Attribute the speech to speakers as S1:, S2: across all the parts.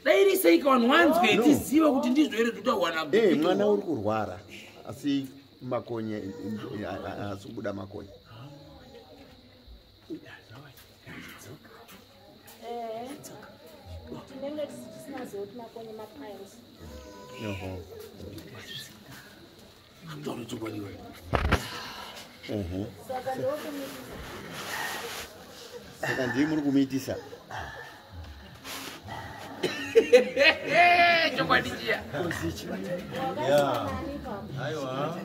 S1: dai iri seika vanhu wanzwe no. tiziva kuti ndizvo here zvitawana hey, eh, mwana uri kurwara
S2: asi makonye eh, eh, asi kubuda makonye Taura chokwadi wewe. Mhm. Saka ndokumitisa. Saka ndiye muri kumiitisa.
S1: Chokwadi chiya. Yeah. Aiwa.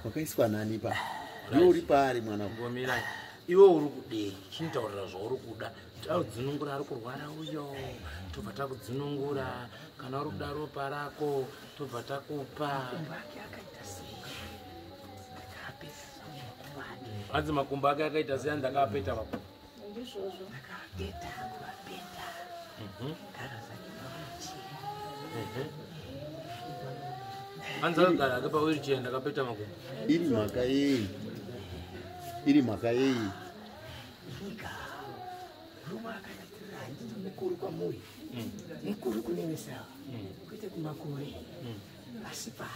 S2: Wakaiswa nani pa? Ndiwe uri paari mwana wangu. Ngomira.
S1: Iwe uri kudei? Chintaurira zvauri kuda. Taudzinungura ari kurwara uyo. Tobva takudzinungura. kana uri kuda ropa rako tobva takupa hanzi makumbo ake akaita seya ndakaapeta vako ndizvozvo ndakaapeta kuapeta mhm. hanzi akagara ake pawirichee ndakapeta makumbo
S2: iri mhaka yei iri mhaka yei Ruma
S3: akatatira handiti mukuru kwamuri mm. mukuru kunevesawa mm. kwete kumakore mm. asi pa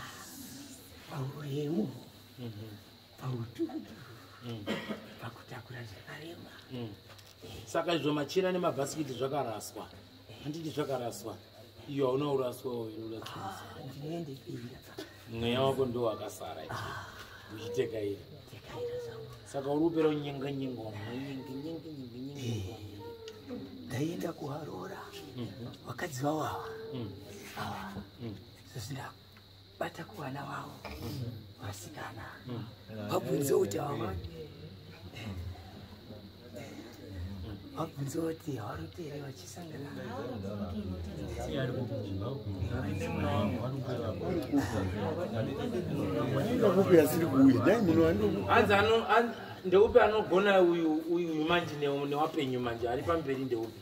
S3: pauremu mm-hmm. pautudu pakutakura zvakarema saka
S1: izvo machina nemabhasikiti zvakaraswa handiti zvakaraswa iyo hauna uraswa
S3: mweya wako ndo
S1: wakasara uchitekaira saka uri kupera unyenga nyenga
S3: ndaienda kuharora vakadzi vawava zvisindaku bata kuvana vavo vasikana vabvunze kuti hava vabvunze kuti havarote here vachisangana
S1: ndeupi anogona uyu manje newapenyu manje ari pamberi ndeupi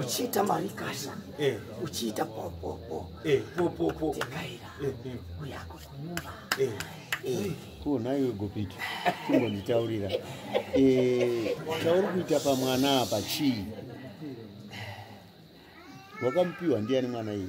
S3: uchiita marikasha eh. uchiita popopo eh, popopo tekaira eh,
S2: uyako kunyumba ko naiwe gopiti kumbonditaurira chauri kuita pamwana apa chii wakamupiwa ndiani mwana iyi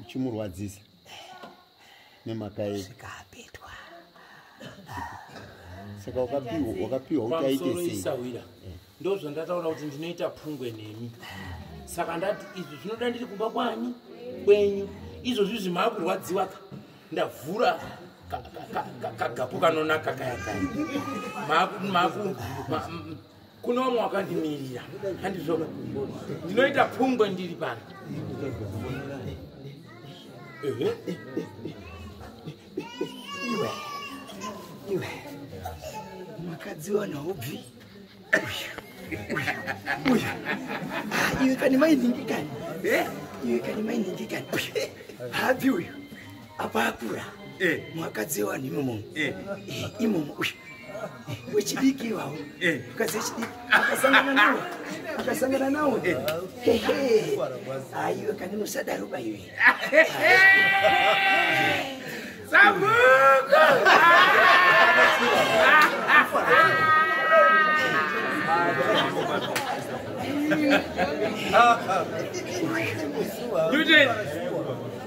S2: uchimurwadzisa nemhaka yei zvikapetwa saka wakapiwa kuti aite sei eh. ndo zvandataura
S1: kuti ndinoita pungwe nemi saka ndati izvi zvinoda ndiri kumba kwani kwenyu izvozvi zvimakurwadziwa ka ndavhura kagapu kanonaka kaya kaya kuno vamwe wakandimirira handizvo ndinoita pfungwe ndiri pano iwe
S3: iwe makadzi wana ubvi uyu iwe kani mainhingi kani iwe kani mainhingi kani habvi uyu apakura eh. mwakadziwa nimomo eh. eh, imomo uyu wechidiki iwawo mukadzi wechidiki akasangana nawo akasangana nawo aiwe kani musadaro baiwe
S1: sabuku Newton!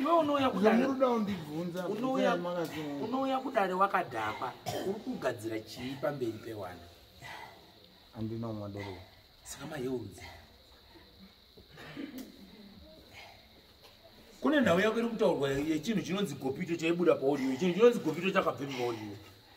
S4: iwe unouya
S1: kudamuruda
S4: undibvunza
S1: unouya kudare wakadhakwa uri kugadzira chii pamberi pewana
S4: andina umwa doro saka mayeurudzi
S1: kune nhau yako iri kutaurwa yechinhu chinonzi gopito chaibuda paodiyo chinhu chinonzi gopito chakabvepi paodiyo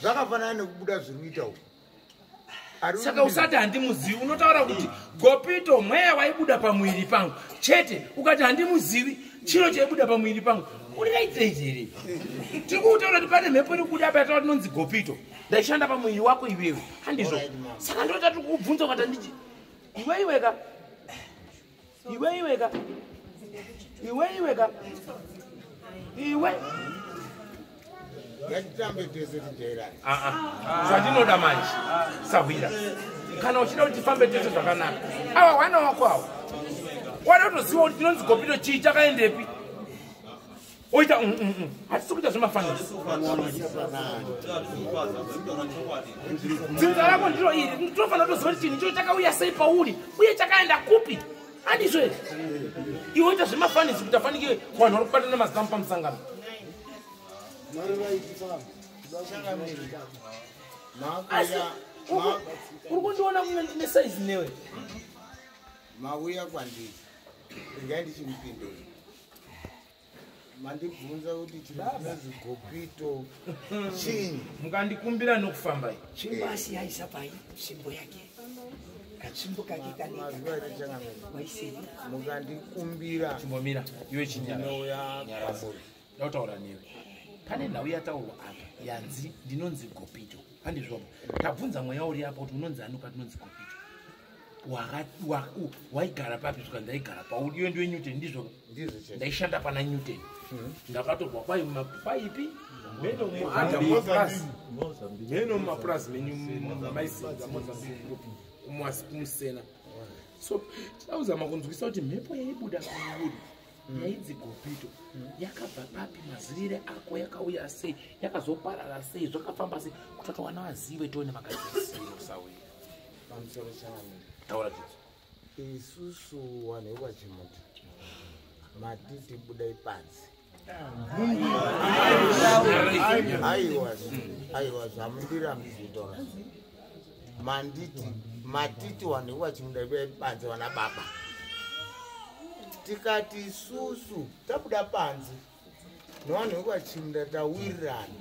S4: zvakafanana nekubuda zviri kuita uku
S1: saka usati handimuzivi unotaura kuti gopito mweya waibuda pamuviri pangu chete ukati handimuzivi chiro chaibuda pamuviri pangu uriraitiraizi here tiri kuutaura kuti pane mhepo iri kuda payataura tinonzi gopito ndaishanda pamuviri wako iwewe handizvo saka ndota tiri kukubvunza ukati handiti iweiweka iwe iwe ka iwe iwe ka iwe
S4: ngatitambe tese tijairani ah, ah. ah. zvandinoda
S1: manje sahwira kana uchida kuti tifambe tese zvakanaka awa hwana wako awa wada kutoziva kuti tinonzi gopito chii chakaendepi oita mm, mm, mm. hatisi kuita zvemafanidzinza rako ndiro iri tinofanira toziva kuti chinhu ichocho chakauya sei pauri uye chakaenda kupi handizvo ere iwe oita zvemafanisi kuti afanike vanhu vari kubatana mazitamu pamusangano uri kundiona kunge ndine saizi newe
S4: mauya kwandiri ingai ndichimupindura mandibvunza kuti chirikuzigopito chinyi mukandikumbira
S1: nokufamba tsvimbo asi yaisa
S3: pai tsvimbo yake katsvimbo kake kaneaisei mukandikumbira
S4: chimbomira
S1: iwe chinyauya kwamuri
S4: ndautaura newe
S1: pane nhau yataurwa apa yanzi ndinonzi gopito handizvoba tabvunza mweya uri apa kuti unonzi anuka tinonzi gopito waigara papi svika ndaigara pauri iwe ndiwe newton ndizvo ndaishanda pana newton hmm. ndakatorwa kwai mapaipi meno mumapurazi menyu maisinza mozambique kumwasi kumusena so chauzama kunzwisa kuti mhepo yaibuda kuuri Mm. yainzi gopito mm. yakabva papi mazirire ako yakauya sei yakazoparara sei zvakafamba sei kutotowana vazive tione makazisiro sauya
S4: pamusoro
S1: chavo taura chitso isusu
S4: wanhu wekwachimuti matiti buda ipanzi aiwa aiwa zvamundira mzitora manditi matiti wanhu wekwachimuda buda ipanzi wana baba tikati isusu tabuda panzi Novanhu vekwaChimda tawirirana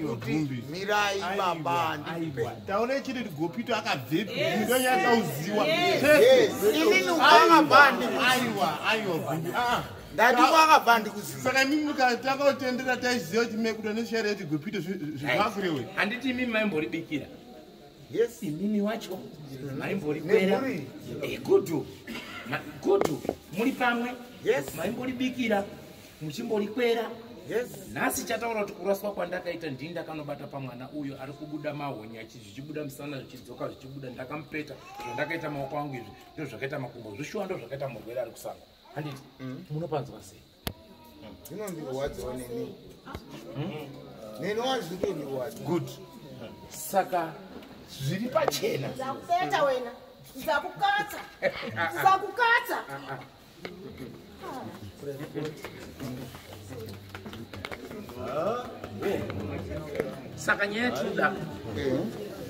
S4: kuti mirai baba ndikupe. Taone chiri Gopito
S5: akabvepi? Ndo yakauziwa. Yes,
S4: inini ukabva ndikupe. Aiwa, aiwa
S5: Gumbi. Ah. Ndati
S4: kwakabva ndikuziva. Saka imimi mukatanga
S5: kutendera taiziva kuti mekuda neshare yati Gopito zvivakure we. Handiti imimi maimbori
S1: bikira. yes
S4: imimi wacho
S1: maimbori kwera igudu eh, gudu muri pamwe yes maimbori
S4: bikira
S1: muchimbori kwera yes
S4: nhasi chataura kuti
S1: kuraswa kwandakaita ndini ndakanobata pamwana uyo ari kubuda mahonya zvichibuda musana zvichidzoka zvichibuda ndakamupeta zvandakaita maoko angu izvi ndozvakaita makumbo zvishuwa ndozvakaita murwere ari kusanga handiti mm. munopanzwa sei zvinondirwadzawo
S4: neni hmm? neni wazvinondirwadza good
S1: saka zviri pachena ndakupeta wena
S6: ndakukatsa ndakukatsa
S1: saka nyaya yatinoda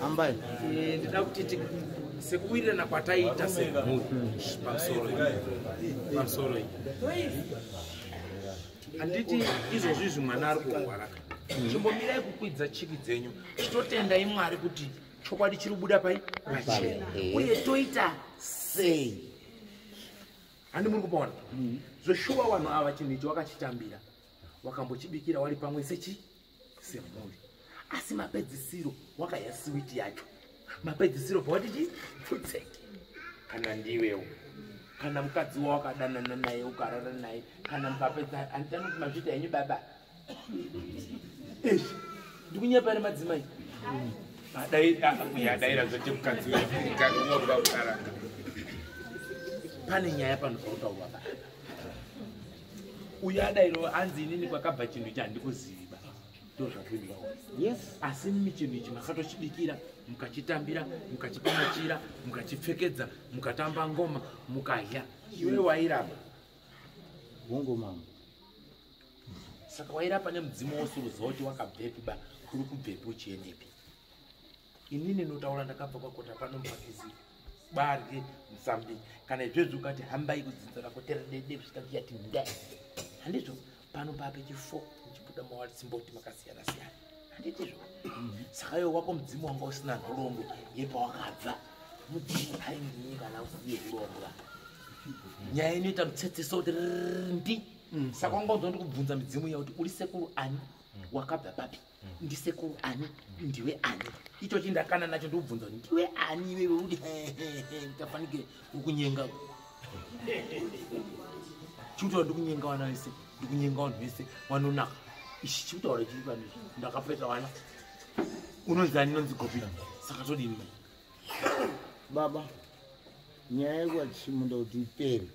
S4: ambai eh, ndida
S1: kuti sekuwirirana kwataita semhuri pamusoro pamusoro handiti izvozvi izvi mwana ari kurwaraka chimbomirai kukwidza chiki dzenyu chitotendai mwari kuti chokwadi chiri kubuda pai pachena eh. uye toita sei handi muri kupaona mm. zveshuwa vanhu ava chinhu ichi wakachitambira wakambochibikira wari pamwe sechi semhuri asi mapedzisiro wakaya siwiti yacho mapedzisiro bva watiti pfutseke kana ndiwewo kana mukadzi wa wakadanana naye ukarara naye kana mukapedza handitani kuti mazvita henyu baba ish ndikunyepari madzimai adaira zvote mukadzi weaoa ukarara pane nyaya panopautaurwa baa uyo adairo anzi inini kwakabva chinhu ichi handikuziva ndozvakuiva yes asi mimi chinhu ichi makatochibikira mukachitambira mukachipamachira mukachipfekedza mukatamba ngoma mukadya iwe wairamba
S4: hongo mama
S1: saka wairapa nemudzimu wosuruza kuti wakabvepi ba kuri kubvepi uchiendepi ini ninotaura ndakabva kwakota pano mubhakizi barye mufambi kana izvezvi ukati hambai kudzinza rako teredede kusvika ndiyati nda handizvo pano papechi fo ndichibuda mawalisimboti makasiyana siyana handitizvo mhm. saka yo wako mudzimu wanga usina nhorombo yepawakabva mudzimu hainginyi kana usiye uromba nyaya inoita mutsetseso kuti ndi mm. saka wanga udzonda kubvunza midzimu iya kuti uri sekuru ani mm. wakabva papi mm. ndisekuru ani ndiwe ani icho chindakana nacho ndikubvunza kuti ndiwe ani iwewe uri tafanike ukunyenga chikutaura ndikunyenga vana vese ndikunyenga vanhu vese vanonaka ichi chikutaura chiri pano ndakapeta vana unonzi ani inonzi gobina saka todini mai
S4: baba nyaya yekuvachimuda kuti ipere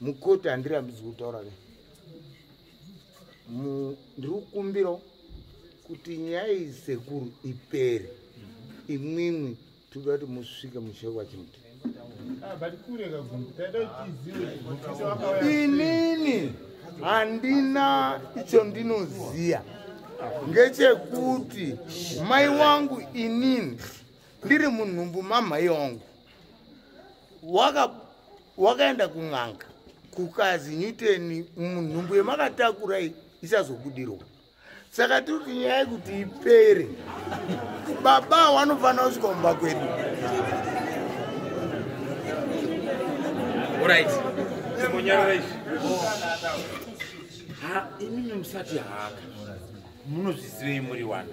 S4: mukoti handirambidzi kutaura ke ndiri kukumbira kuti nyaya iyi sekuru ipere imwimwi toda kuti musvike mushe kwachimuti ah, inini handina icho ndinoziya ngechekuti mai wangu inini ndiri munhumbu mamhai wangu wakaenda waka kun'anga kukazi nyuteni munhumbu yemakatakura isazobudirwa saka tiri kuti nyaya yekuti ipere baba wanofanira kusvika kumba kwedu
S1: orit timonyarara izvi ha imimi musati haka munozvizivei muri wani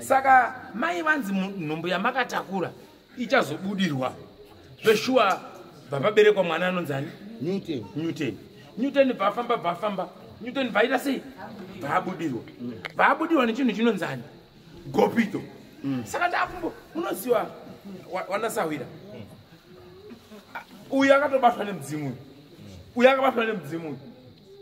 S1: saka mai vanzi nhumbu yamakatakura ichazobudirwa zveshuwa bvapaberekwa mwana anonzani newton newton newton bvafamba bvafamba newton bvaita sei bvaabudirwa bvaabudirwa nechinhu chinonzani gopito mm. saka ndakumbo unoziva wanasahwira uyu akatobatwa nemudzimu uyu uyu akabatwa nemudzimu uyu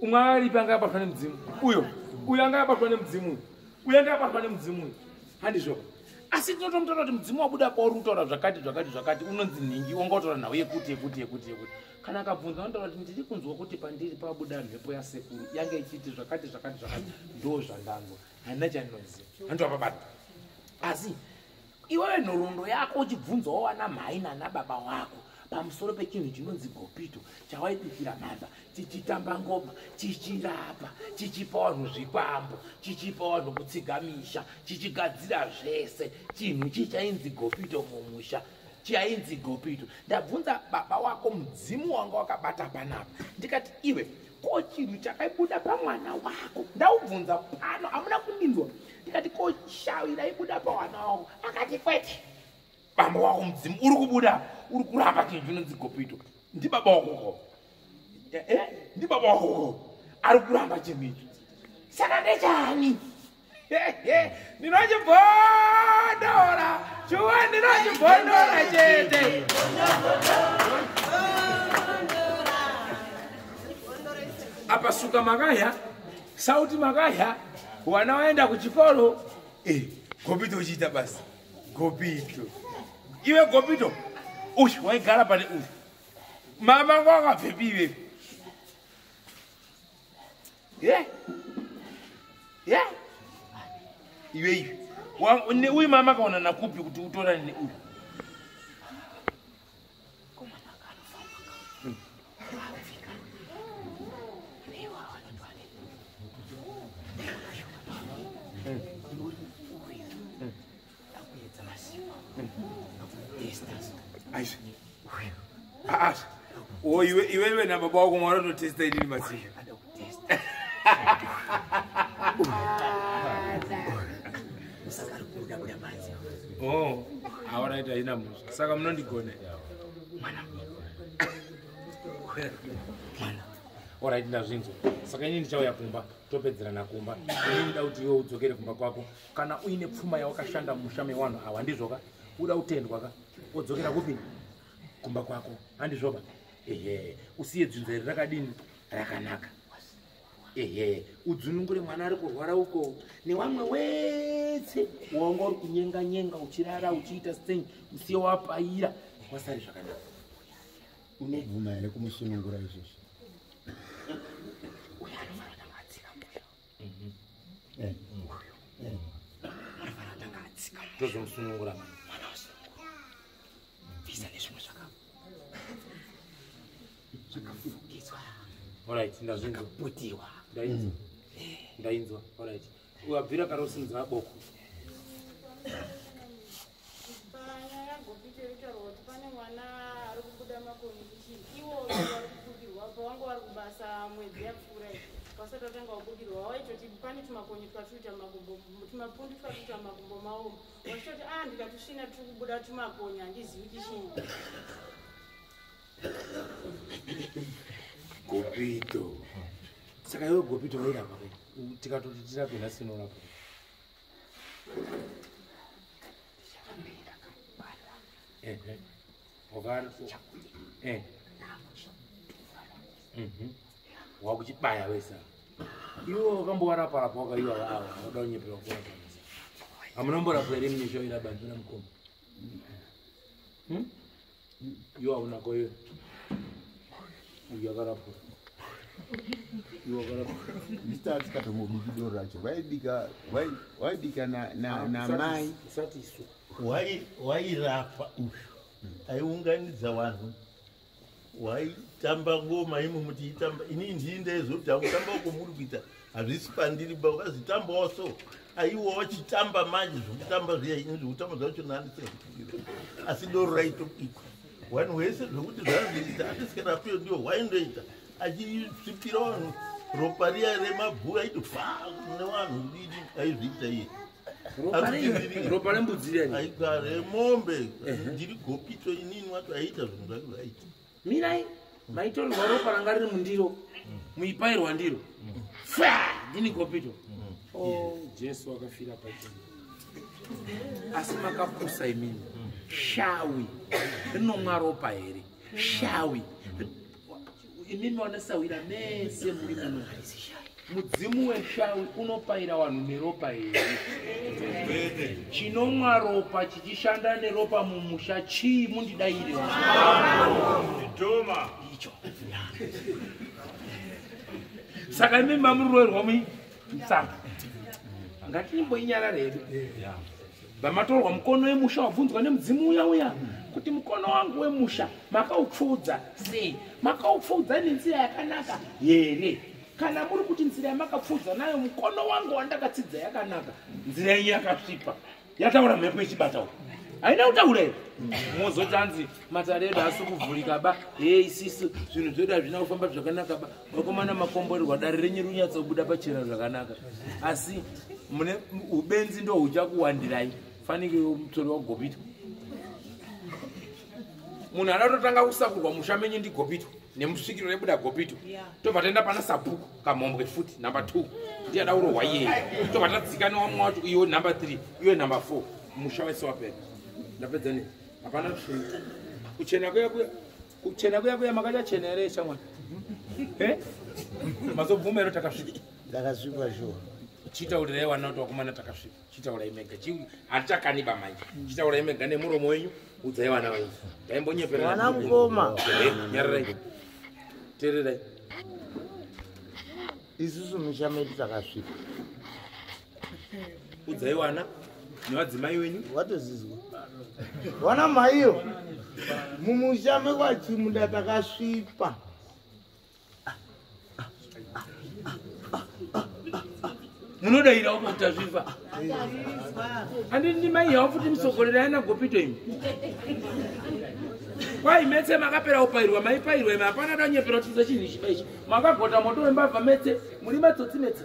S1: umwe akaripi anga akabatwa nemudzimu uyo uyo anga akabatwa nemudzimu uyo uyo anga akabatwa nemudzimu uyu handizvoka asi tinotomutaura kuti mudzimu wabuda pauri kutaura zvakati zvakati zvakati unonzi nhingi wanga utaura nhau yekuti yekuti yekuti yekuti kana akabvunza anotaura kuti ndiri kunzwa kuti pandiri pabuda mhepo yasekuru yanga ichiiti zvakati zvakati zvakati ndo zvandanzwa handina chandinoziva handova pabata asi iwewe nhoroondo yako uchibvunzwawo wana mhai nana baba wako pamusoro pechinhu chinonzi gopito chawaipikira mhamba tichitamba ngoma tichirapa tichipa vanhu zvikwambo tichipa vanhu kutsiga misha tichigadzira zvese chinhu chii chainzi gopito mumusha chainzi gopito ndabvunza baba wako mudzimu wanga wakabata panapa ndikati iwe ko chinhu chakaibuda pamwana wako ndaubvunza pano hamuna kundinzwa ndikati ko shawi raibuda pamwana wako akati kwete bamba wako mudzimu uri kubuda uri kuramba chinhu chinonzi gopito ndibaba wakoko eh, eh, ndibaba wakoko ari kuramba chinhu icho saka ndechani ndinochimbondora chuwa ndinochimbondora chete apa suka makaya sauti makaya wana waenda kuchikoro eh, gopito uchiita basi gopito iwe gopito ush waigara pane ush mama ngo akabvepi ivepi ye ye iwe iwe uyu mama akaona nakupi kuti utorane neuyu Oi, iwe iwe na baba wako mwana unotesta inini masiya. Oh, aoraita haina musha saka munondigone mwana mwana orit ndazvinzwa saka ini ndichauya kumba topedzerana kumba ini ndida kuti iwe udzokere kumba kwako kana uine pfuma yawakashanda musha mewanhu awa handizvoka uda kutendwa ka odzokera kupi kumba kwako handizvoka ehe usiye dzinza iri rakadini rakanaka ehe udzunungure mwana ari kurwara uko newamwe wese wanga uri kunyenga nyenga uchirara uchiita sting usiye wapaira wasari zvakanaka
S2: unobvuma here kumusunungura izvozvi
S3: tozomusunungura mwana
S1: wasunungura
S3: visa nezvimwe zvakava zvakafukidzwa alright
S1: ndazvinzwa ndakaputiwa
S3: ndainzwa
S1: ndainzwa alright wabvira kare usinzwa aboko
S7: Bana yagopita yotaurwa kuti pane mwana ari kubuda makoni kuti iwo vari kubudirwa pawanga wari kubasa mwedzi yapfuura iyi wasati watanga wabudirwa waitoti pane tumakonye twatuita makumbo tumapundu twatuita makumbo mawo wachitoti a ndikatusvina turi kubuda tumakonye handizivi kuti chii
S1: gopito saka iwe gopito wairapa tikatoti tirape nhasi inorapa wakuchibaya mhm. wesa iwe wakambowaraparapa wakaiwa ava vanoda kunyepera kuona hamuna mborapwa here mune zvairabandira mukoma hmm? Iwe hauna koyo. Uyu akarapwa.
S2: Iwe akarapwa. Mr. Atikata mubiki doro racho. Vaibika, vaibika na, na, ah, na mai. Usati isu.
S1: Wai, wairapa
S8: uyu. Aiunganidza vanhu. Waitamba ngoma imu mutiitamba. Ini ndii ndaizotaura kutamba uko muri kuita. hazvisi pandiri ba ukazitambawo so aiwa wachitamba manje zvokutamba zviya ini zvokutamba zvacho naniseakufikira asi doro raitobikwa wani wese zvokuti zvaziita atisikarakwiyo ndiyo waindoita achisvipira vanhu ropa riya remabhuya aiti fa nevanhu didi aizviita iye
S1: ropa rembudzi riya aigare mombe
S8: ndiri gopito inini wacho aiita zvinhu zvake zvaiita mirai
S1: maitorerwa ropa ranga riri mundiro muipairwa ndiro ndini kopito oh, jesu akafira pachii asi makapusa imini shawi rinomwa ropa here shawi imimi wanesawira mese muri muno mudzimu weshawi unopaira vanhu neropa here chinomwa ropa chichishanda neropa mumusha chii mundidaire icho saka imi mamuroerwa mui msaka ngatinimboinyarara hedu vamatorwa mukono wemusha wabvunzwa nemudzimu uya uya kuti mukono wangu wemusha makaupfuudza sei makaupfuudza nenzira yakanaka here kana muri kuti nzira yamakapfuudza nayo mukono wangu wandakatsidza yakanaka nzira yenyu yakasvipa yataura mhepo ichibata u haina kutaura iri mozoti anzi matare edu asi kuvhurika ba he isisu zvinhu zvedu hazvina kufamba zvakanaka ba vakomana makomborerwa dare renyu rinyatsa kubuda pachena zvakanaka asi mune ubenzi ndo huchakuwandirai fanike mutori wagobita munhu adatotanga kusakurwa musha menyu ndigopito nemusvikiro rebuda gopito tobva taenda pana sabhuku kamhombwe futi number two ndiye ada kurohwa iyeye tobva tadzika newamwe wacho iyo number three iyo number four musha wese wapera ndapedza ne hapana kuchena kuchena kuya kuya kuchena kuya kuya makacha chena here shamwana eh? mazobvuma ero takasvika takasvika shuwa
S4: chitaurira yewana
S1: kuti wakumana takasvika chitaurai mega hatichakaniba manje chitaurai mega nemuromo wenyu udzai vana venyu daimbonyepereana mukoma
S4: nyarirai
S1: tererai
S4: isusu musha medu takasvika
S1: udzai wana nevadzimai wenyu watozizwa
S4: wana maiyo mumusha mekwachimuda takasvipa
S1: munodaira uko kuti azviva andi ndi mai yavo futi musogorera yana gopito imi kwai metse makapera kupairwa maipairwa imi hapana danyepera kutiza chinhu ichi paichi makagota moto wembavha metse muri matsotsi metse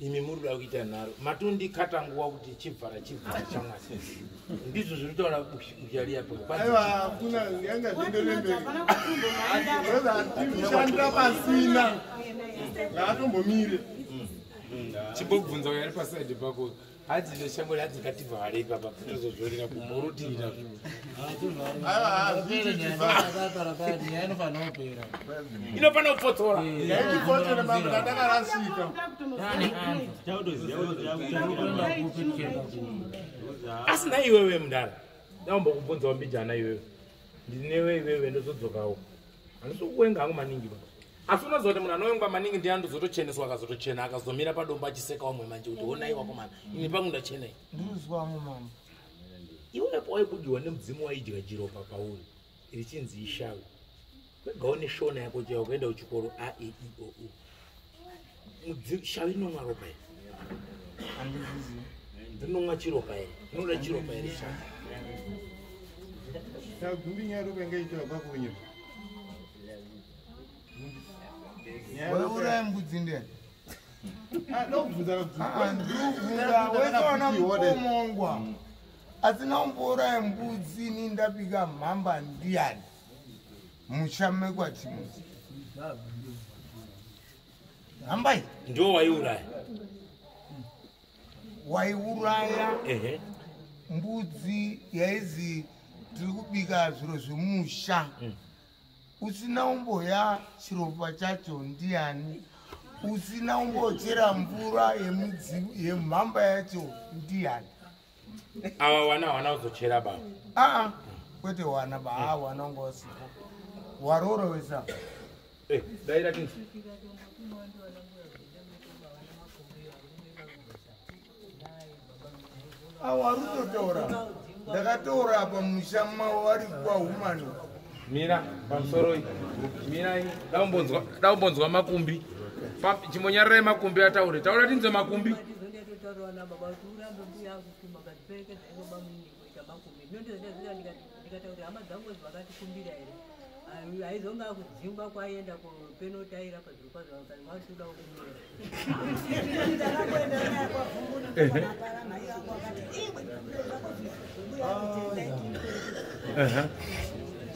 S1: imi muri kuda kuita nharo matondikata nguva kuti chibvara chibvara chamwari ndizvo zviri kutaura
S5: uchaliapoaaiaashandira pasina ngaatombomire
S1: chimbobvunza uyo ari pasaidi pako hadzi ndoshango hadzi ngativhare ipapa tozozorera kumurutivi nazvo inofanira kupfotora asi naiwewe mudara daumba kubvunzawo mbijana iwewe ndiri newe iwewe ndozodzokawo handisi kuwenga hangu maningi ba asi unoziva kuti munhu anowengwa maningi ndiye andozotocheneswa akazotochena akazomira padombo achiseka wamwe manje kuti honai wako mana ini pangu ndachenai ndinozwamo mama
S4: iwepo
S1: waikudiwa nemudzimu waidya jiropa pauri richinzi ishavi wega une shona yako chaiwa kuenda kuchikoro aeioo e, mudzimu shava inomwa ropa here
S4: ndinomwa
S1: chiropa here ndinoda chiropa here
S5: shava tagumbi nyaya ropa inge ichiwa kwakunye
S4: wauraya mbudzi ndiyani ndokuvhunzaaomongwa asina umbouraya mbudzi ni ndapika mhamba ndiyani musha mekwatimoti hambai ndo waiuraya waiuraya mbudzi yaizi tiri kubika zviro zvemusha mm. usina umboya chiropa chacho ndiani usina umbochera mvura yemhamba yacho ndiani
S1: awa wana hawana kuzochera baba aa
S4: kwete wana ba haa wana wanga wasipo waroora wesa eh,
S1: daira ti
S4: awa rutotaura ndakataura apa musha mavo vari kuwa humani mira
S1: pamusoro iyi mirai daumbonzwa makumbi chimonyararai makumbi ataure taura tinzwe makumbi Thank you. urambe mbuya angu kuma but peke ndaingoba muiniko kuita makumi ndondoendazika
S9: ndikatauri hama dzangu kuti vakatikumbira here aizonge akudzingwa kwaienda kupenotaira pazviro kwazvo vakati vachitoda kunyora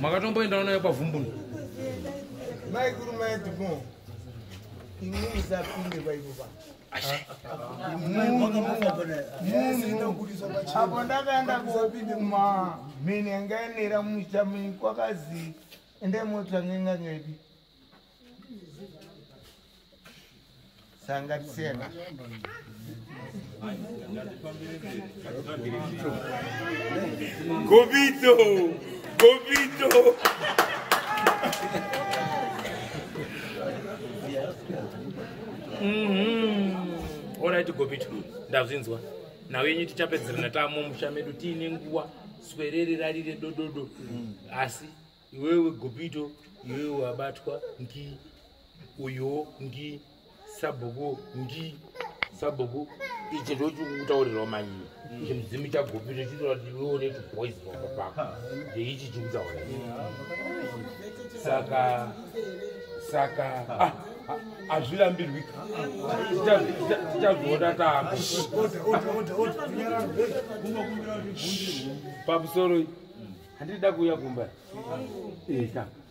S1: makatomboendawo nayo pavhumbuni maikuru
S4: maedmo inini sapinde paipo pa apo ndakaenda kuma mhini yanga yanera musha mini kwakazi ende mota ngenga ngedi sangatisena
S1: gobito gobito Mhm. Alright Gobit ndazvinzwa. Nawe yenyu tichapedzerana tamo musha medu tiine nguwa swerere rarire dododo. Mm. Asi iwewe Gobito iwewe wabatwa ngi uyo ngi sabhuku ngi sabhuku ichi ndochikutaurirawo manyi chimudzimu chagopi zvichitora kuti iwe une tuboys pamba pako ndeichi chikutaura saka saka ah, ah, hazvirambirwi tichazviona taapo pamusoro handida kuuya kumba eka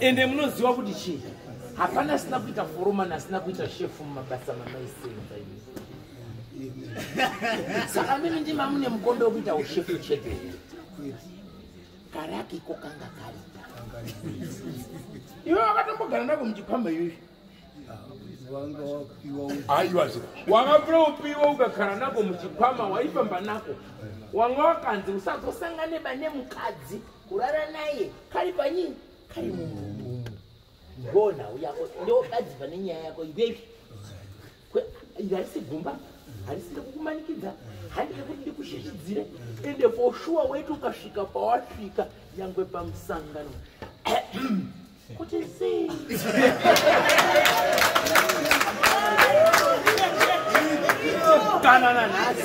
S1: ende munoziva kuti chii hapana asina kuita foromani asina kuita shefu mumabasa mamaisenza ini saka mimi ndimamune mukombe wekuita ushefu chete karaki ko kanga kari iwe wakatombogara nako muchikwamba iyoyo aiwa zve wakapira upiwa ukagara nako muchikwama waifamba nako wanga wakanzi usazosangane bane mukadzi kurara naye kari panyini kari mumumu gona uyako ndokadzi pane nyaya yako ivepi harisi gumba harisi rekukumanikidza handi rekuti ndikushishidzire ende for sure weti ukasvika pawasvika nyangwe pamusangano kuti zii kana nanhasi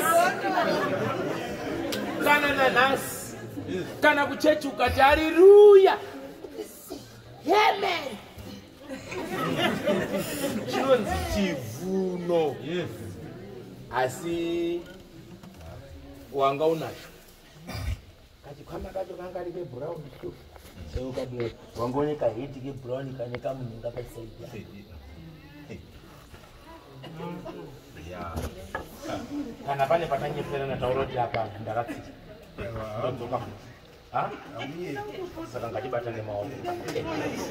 S1: kana nanhasi kana kuchechi ukati hariruya hemen chinonzi chivuno asi wanga unacho kachikwama kacho kangari kebrown seukadii wangone kahiti kebrown kane kamunhu ngakasaidya kana pane patanyeperana taura kuti apa ndakatsika ndodzoka futi saka ngatibata nemaoko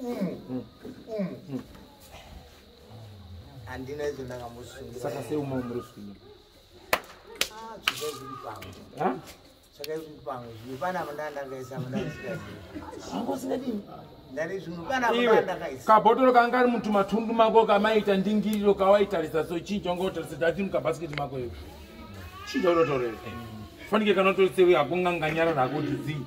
S1: umu umu
S4: handina izvo ndakamusungura saka sei uma muri kusvinyira
S1: zvakaizvipamwe zvimwe
S4: pana mndaa ndakaisa mndaangosingadini kabhotoro kanga kari mutumatundu
S1: mako kamaita ndingiriro kawaitarisa so chii changa utarisa dati mukabhasiketi mako iyo chii chaunotorera fanike kanotoisewe hakunganganyarara hakuti zii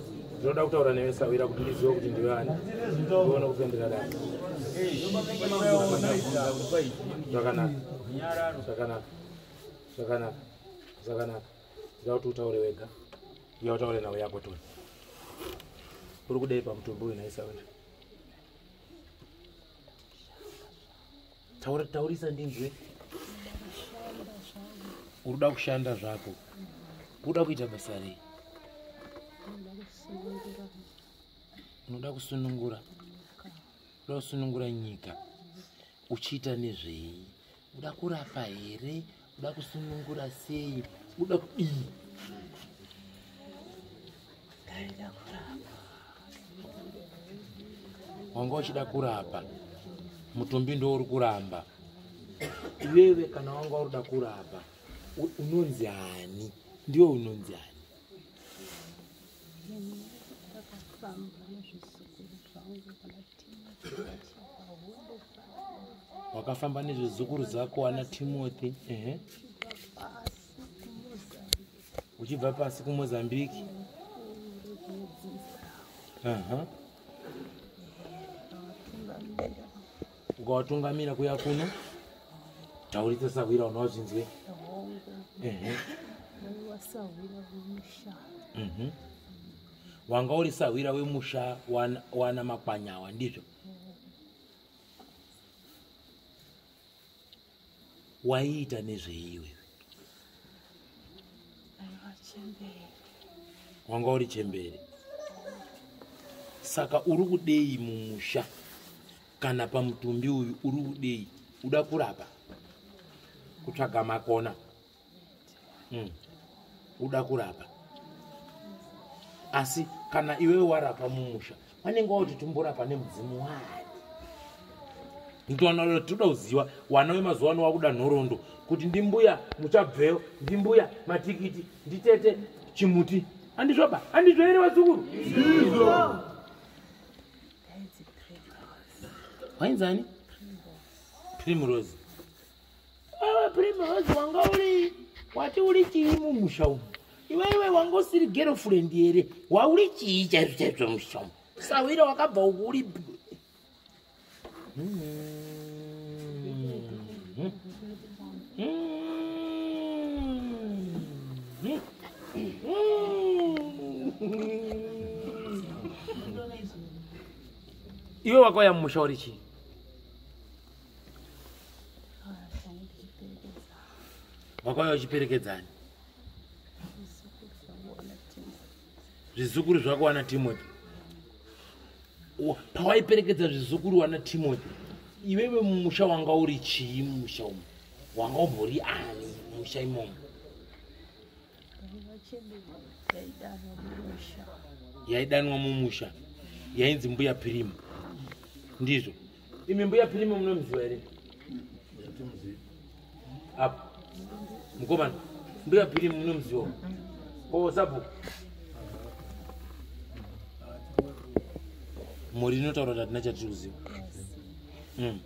S1: ndinoda kutaura newe sawira kuti ndizive kuti ndiwe ani ndione kupendera dai zvakanaka zvakanaka zvakanaka zvakanaka ndida kuti utaure wega iya utaure nhau yako toni uri kudei pamutumbi uyu naisawira taura taurisa ndinzwe uruda kushanda zvako uda kuita basa rei unoda kusunungura unoda kusunungura nyika uchiita nezvei uda kurapa here uda kusunungura sei uda kudii ndaida kurapa wanga uchida kurapa mutumbi ndo uri kuramba iwewe kana wanga urida kurapa unonzi ani ndiwe unonzi ani wakafamba nezvezukuru dzako ana timothy ehe uchibva pasi kumozambique aha ukawatungamira kuya kuno taurite sahwira unowazvinzwe ehe mhm wanga uri sahwira wemusha wana makwanyawa ndizvo waiita nezveiwe wanga uri chembere saka uri kudei mumusha kana pamutumbi uyu uri kudei uda kurapa kutsvaga makona mm. uda kurapa asi kana iwewe warapa mumusha vanenge wauti tumborapa nemudzimu wani ndoana toda kuziva wana wemazuva ano wakuda nhorondo kuti ndimbuya muchabveyo ndimbuya matikiti nditete chimuti andizvoba andizvo here vazukuru wainzani primrose Wewe prime wezi wanga uri wati uri chii mumusha umu? Iwewe wanga usiri girlfriend here? Wauri chii chaizvo chaizvo musha umu? Sawira wakabva uku uri iwe wakauya mumusha uri chii wakauya uchiperekedzani zvizukuru zvako wana timothy pawaiperekedza zvizukuru wana timothy iwewe mumusha wanga uri chii mumusha umu wanga umbori ani mumusha imomo yaidanwa mumusha yainzi mbuya pirimu ndizvo imi mbuya pirimu munomuziva here apo mukomana mbuya pirimu munomuziva o sabhuku mhuri inotaura kuti hatina chatiri kuziva mm.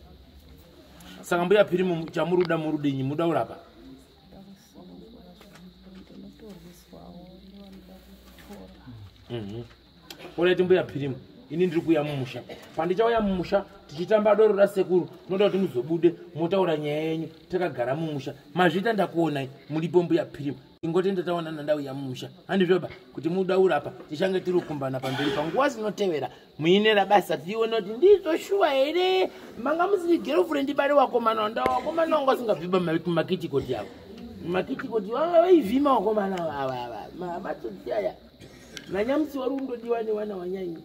S1: saka mbuya pirimu chamuri kuda murudenyi muda kurapa Mhm. orit mbuya pirimu ini ndiri kuya mumusha pandichauya mumusha tichitamba doro rasekuru tinoda kuti muzobude motaura nyaya yenyu takagara mumusha mazvita ndakuonai muripo mbuya pirimu ingoti ndataonana ndauya mumusha handizvoba kuti mudaura apa tichange tiri kukumbana pamberi panguva zinotevera muine rabasa tione kuti ndizvo shuwa here manga musiri girlfriend bari wakomana wanda wakomana wanga usingavhiba makitikoti avo makitikoti vanga vaivhima wakomana vavava mabatoti aya nanyamusi wari kundodiwa newana wanyanyi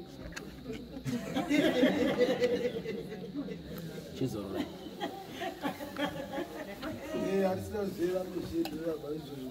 S1: chizorora Yeah, I still see that
S4: machine.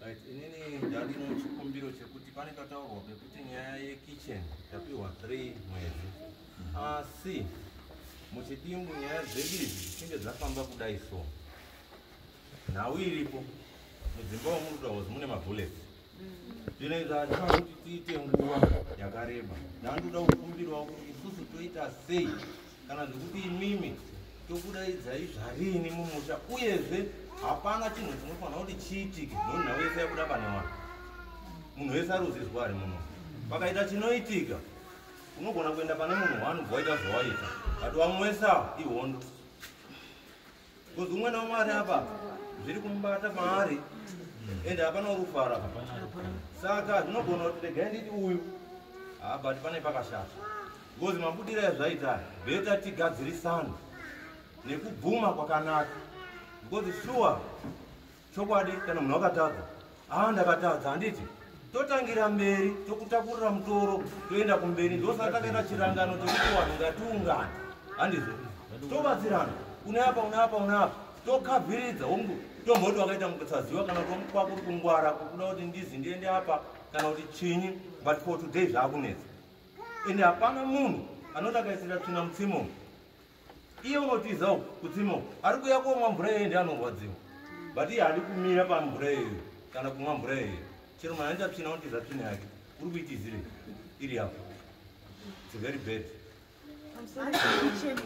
S10: Right, inini ndandino chikumbiro chekuti pane kataurwa pekuti nyaya yekitchen tapiwa 3 mwedzi asi muchidimbu nyaya dzedu idzi dzichinge dzafamba kudai so nhau iripo mudzimba womurudawos mune mabullets zvinenge zvazvinoda kuti tiite nguva yakareba ndandoda kukumbirawo kuti isusu toita sei kana zvekuti imimi tokudaidzai zvarini mumusha uyezve hapana chinhu chinofanira kuti chiitike noo nhau yese yakuda pane mwana munhu wese aruzizwa ari muno pakaita chinoitika unogona kuenda pane munhu wani bwaita zvawaita but wamwesa ihondo Because umwana wamwari apa zviri kumubata maari ende hapana urufara saka zvinogona kuti regai nditi uyu habati pane pakashata because mabudira yazvaita beta tigadzirisana nekubvuma kwakanaka because sure chokwadi kana munhu akatadza haa ndakatadza handiti totangira mberi tokutakurira mutoro toenda kumberi ndosaka takaita chirangano chekuti vanhu ngatiungana handizvo tobatsirana une apa une apa une apa tokavhiridza hongu tomboti wakaita mukusaziva kana kuti kwakuri kungwara kukuda kuti ndizi ndiende apa kana kuti chinyi but for today zvaakunetsa ende hapana munhu anoti akaisira tsvina mutsimo iye unotiza uku kutsima uku ari kuya komwa mvura iyoyo ndi anorwadziwa but iye handi kumira pamvura iyoyo kana kumwa mvura iyoyo chero mwana ndi apsina unotiza tsvina yake uri kuitizire iri apo its very bad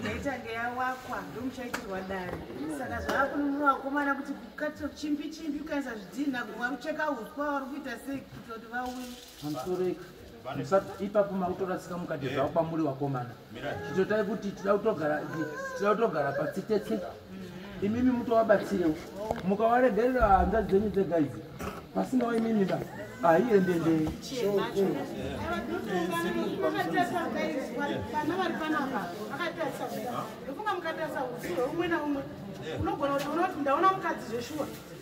S10: aitange
S6: yawakwa ndomuchaitirwa dare saka zvaakununura vakomana kuti kukatira chimbi chimbi ukaisa zvidhinha kumwa kucheka uswa vari kuita sei kuitira kuti vauye Handitoreki. Musat-
S1: ipapo makutorasika mukati Yeah. zvavo kwamuri wakomana Mira. chitotai kuti tida kutogara tida kutogara patsi tese imimi mutovabatsirewo mukawaregerera hanzvadzi dzenyu dzega idzi pasinawo imimi ba haiendendei vana vari panapa vakatarisa ndofunga mukatarisa usi hweumwe naumwe unogona
S6: kuti unoona kuti ndaona mukadzi zveshuwa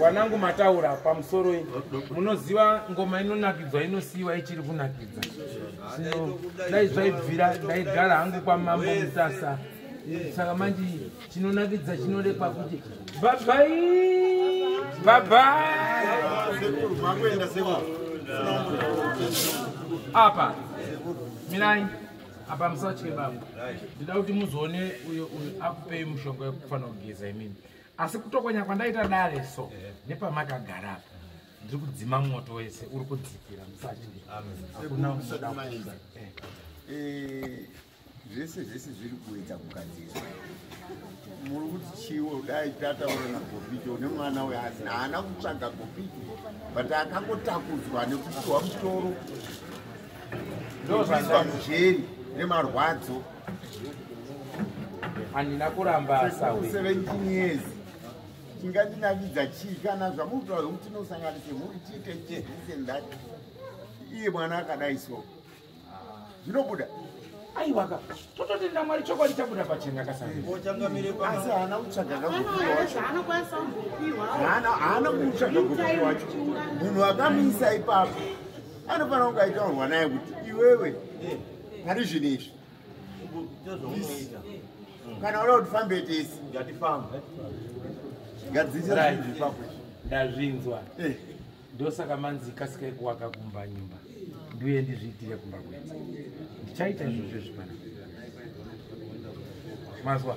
S1: wanangu mataura pamusoro i munoziva ngoma inonakidzwa inosiyiwa ichiri kunakidza so dai zvaibvira ndaigara hangu kwamambo mutasa saka manje chinonakidza chinodekwa kuti bhabai bhabai apa mirai apa musatye baba ndida kuti muzoone uyo uyo akupei mushonga wekufanira kugeza imini asi kutokonya kwandaita dare so eh. nepamakagara apa ndiri kudzima moto wese uri kudzikira musachidaakunausadakuza eh. eh,
S2: zvese zvese zviri kuedza kugadzira muri kuti chiwo dai tataura nagopito une mwana uyo asi haana kutsvaga gopito but akangotakudzwa nekupiwa mutoro ndoaamujeri nemarwadzo
S1: handina kuramba sawe 17 years
S2: chingandinavidza chii kana zvamutaura zvekuti tinosanganise mhuri tiite chii this and that iye mwana akadai so zvinobuda
S1: aiwaka tototenda mwari chokwadi chabuda pachena kasaasi
S2: haana kutsvaga kakupiwahaana kutsvaga kupi wacho munhu akamuisa ipapo anofanira kunge aitaurwa naye kuti iwewe pari zvinhu izvi kana oda kuti fambe tese ngatifambe ndazvinzwa
S1: eh. ndosaka manzi ikasika ikuwaka kumba nyumba ndiuye ndizviitire kumba kwete ndichaita izvo zvezvipana mazwa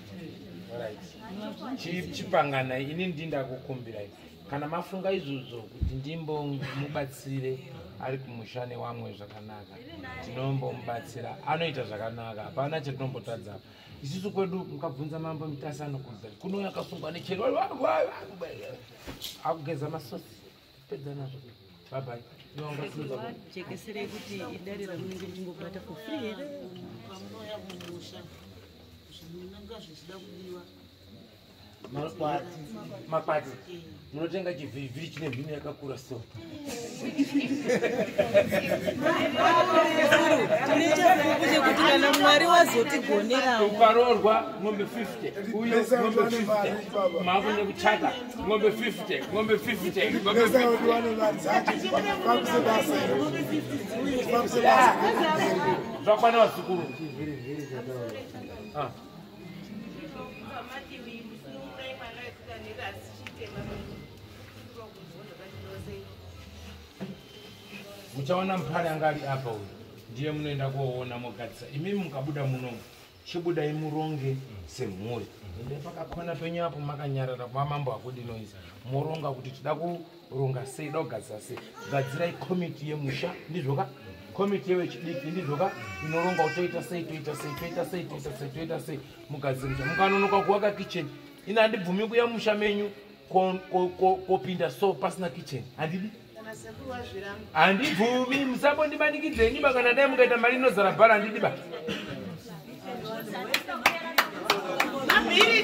S1: chipangana ini ndinda kukumbirai kana mafunga izvozvo kuti ndimbomubatsire ari kumusha newamwe zvakanaka tinombomubatsira anoita zvakanaka hapana chatinombotadza isusu kwedu mukabvunza mambo mitasano kuza kunouya akasungwa nechero akugeza masosi jekesera yekuti
S9: idare ramunenge muchingobata for free here pamunouya mumusha zvinonanga zvichida kudiwa
S1: makwati makwati munotenga chivhirivhiri chine mhino yakakura so
S9: kuti kana mwari wazotigonerawo ukaroorwa
S1: mombe 50 uyo mombe 50 maakune kuchata ng'ombe 50 ng'ombe 50 ng'ombe 50 zvakwana vazukuru ah. muchaona mupari anga ari apa uyu ndiye munoenda koona mogadzisa imimi mukabuda munomu chibudai muronge semhuri ende pakakona penyu apo makanyarara kuva mambo akudinoisa moronga kuti tida kuronga sei da kugadzira sei gadzirai komiti yemusha ndizvoka komiti yevechidiki ndizvoka inoronga kuti toita sei toita sei toita sei toita sei toita sei mugadzira musha mukanonoka kuvaka kicheni ini handibvumi kuya musha menyu kopinda so pasina kicheni handidi handibvumi musambondimanikidze nyumba kana dai mukaita mari inozara bhara handidiba Mabhiri,